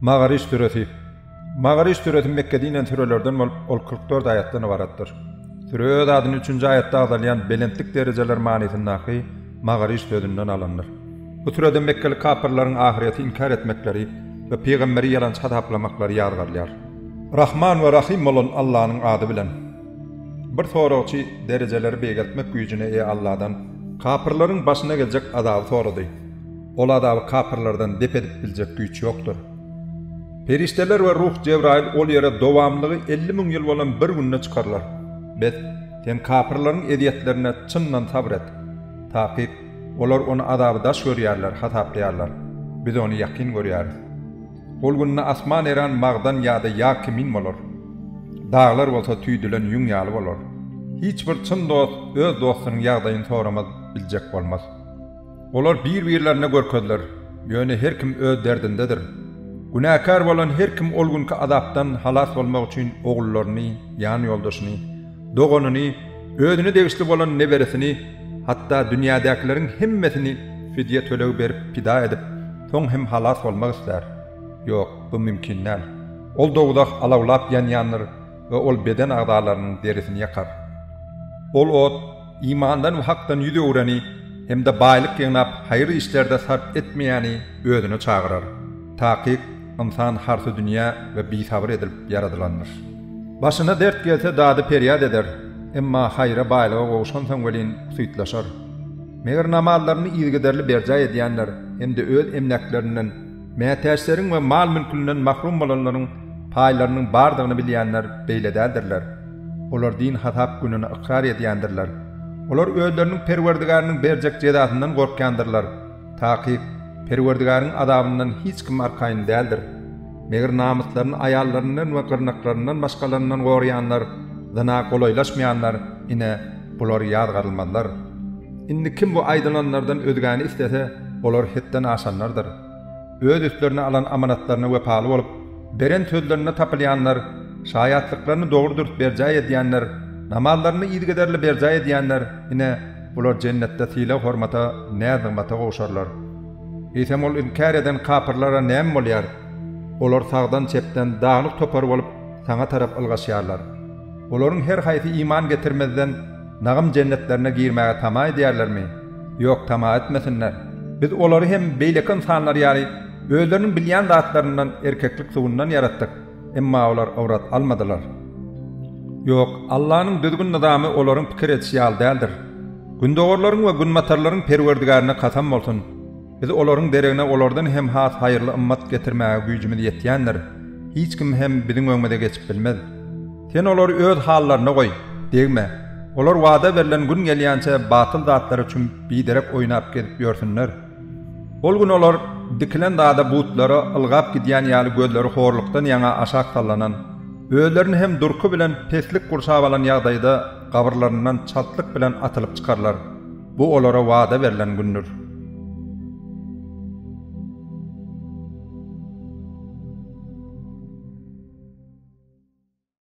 Magariş süresi. Magariş süresi Mekgede inen sürelerden bolup, ol kyrk dört aýatdan ybaratdyr. Süre öz adyny üçünji aýatda agzalýan belentlik derejeler manysyndaky Magariş sözünden alandyr. Bu sürede mekgeli kapyrlaryň ahyreti inkär etmekleri we pygamberi ýalançy hasaplamaklary ýazgarylýar. Rahman we Rahym bolan Allanyň ady bilen. Bir soragçy derejeleri beýgeltmek güýjüne eýe Alladan kapyrlaryň başyna geljek azaby sorady. Ol azaby kapyrlardan dep edip biljek güýç ýokdur. Perişdeler we ruh Jebraýyl ol ýere dowamlylygy elli müň ýyl bolan bir günde çykarylar. Bes, sen kapyrlaryň ezýetlerine çyndan sabr et. Takyk, olar ony azaby daş görýärler, hasaplaýarlar. Biz ony ýakyn görýäris. Ol günde asman eran magdan ýa-da ýag kimin bolar. Daglar bolsa tüýdülen ýüň ýaly bolar. Hiç bir çyn dost öz dostunyň ýagdaýyny soramaz, biljek bolmaz. Olar bir-birlerine görkezler, ýöne her kim öz derdindedir. Günäkär bolan her kim ol günki azapdan halas bolmak üçin ogullaryny, ýan-ýoldaşyny, doganyny, özüne degişli bolan neberesini, hatda dünýädäkileriň hemmesini fidýe tölegi berip pida edip, soň hem halas bolmak islär. Ýok, bu mümkin däl. Ol dowzah alawlap ýanýandyr we ol beden agzalarynyň derisini ýakar. Ol ot, imandan we hakdan ýüz öwreni hem-de baýlyk ýygnap, haýyr işlerde sarp etmeýäni özüne çagyrar. Takyk, ynsan harsy dünýä we bisabyr edilip ýaradylandyr. Başyna dert gelse dady-perýat eder, emma haýra, baýlyga gowuşansoň welin syýtlaşar. Meger namazlaryny yzygiderli berjaý edýänler hem-de öz emläklerinden, mätäçleriň we mal-mülkünden mahrum bolanlaryň paýlarynyň bardygyny bilýänler beýle däldirler. Olar din hasap gününi ykrar edýändirler. Olar özleriniň Perwerdigäriniň berjek jezasyndan gorkýandyrlar. Takyk, Perwerdigäriň azabyndan hiç kim arkaýyn däldir. Meger namyslaryny aýallaryndan we gyrnaklaryndan başgalaryndan goraýanlar, zyna golaýlaşmaýanlar, ine, bular ýazgarylmazlar. Indi kim bu aýdylanlardan özgäni islese, olar hetden aşanlardyr. Öz üstlerine alan amanatlaryna wepaly bolup, beren sözlerinde tapylýanlar, şaýatlyklaryny dogry-dürs berjaý edýänler, namazlaryny yzygiderli berjaý edýänler, ine, Bular Jennetde sylag-hormata, näz-nygmata gowşarlar. Eýsem, ol inkär eden kapyrlara näme bolýar? Olar sagdan-çepden daglyk topar bolup, Saňa tarap ylgaşýarlar. Olaryň her haýsy iman getirmezden, Nagym jennetlerine girmäge tama edýärlermi? Ýok, tama etmesinler. Biz olary hem beýleki ynsanlar ýaly özleriniň bilýän zatlaryndan, erkeklik sugundan, ýaratdyk. Emma olar ybrat almadylar. Ýok, Allanyň düzgün-nyzamy olaryň pikir edişi ýaly däldir. Gündogarlaryň we günbatarlaryň Perwerdigärine kasam bolsun! Biz olaryň deregine olardan hem has haýyrly ymmat getirmäge güýjümiz ýetýändir. Hiç kim hem biziň öňümize geçip bilmez. Sen olary öz hallaryna goý, degme. Olar wada berlen gün gelýänçä batyl zatlara çümüp, biderek oýnap gezip ýörsünler. Ol gün olar dikilen dada butlara ylgap gidýän ýaly gözleri horlukdan ýaňa aşak sallanan, özlerini hem durky bilen peslik gurşap alan ýagdaýda gabyrlaryndan çaltlyk bilen atylyp çykarlar. Bu olara wada berlen gündür.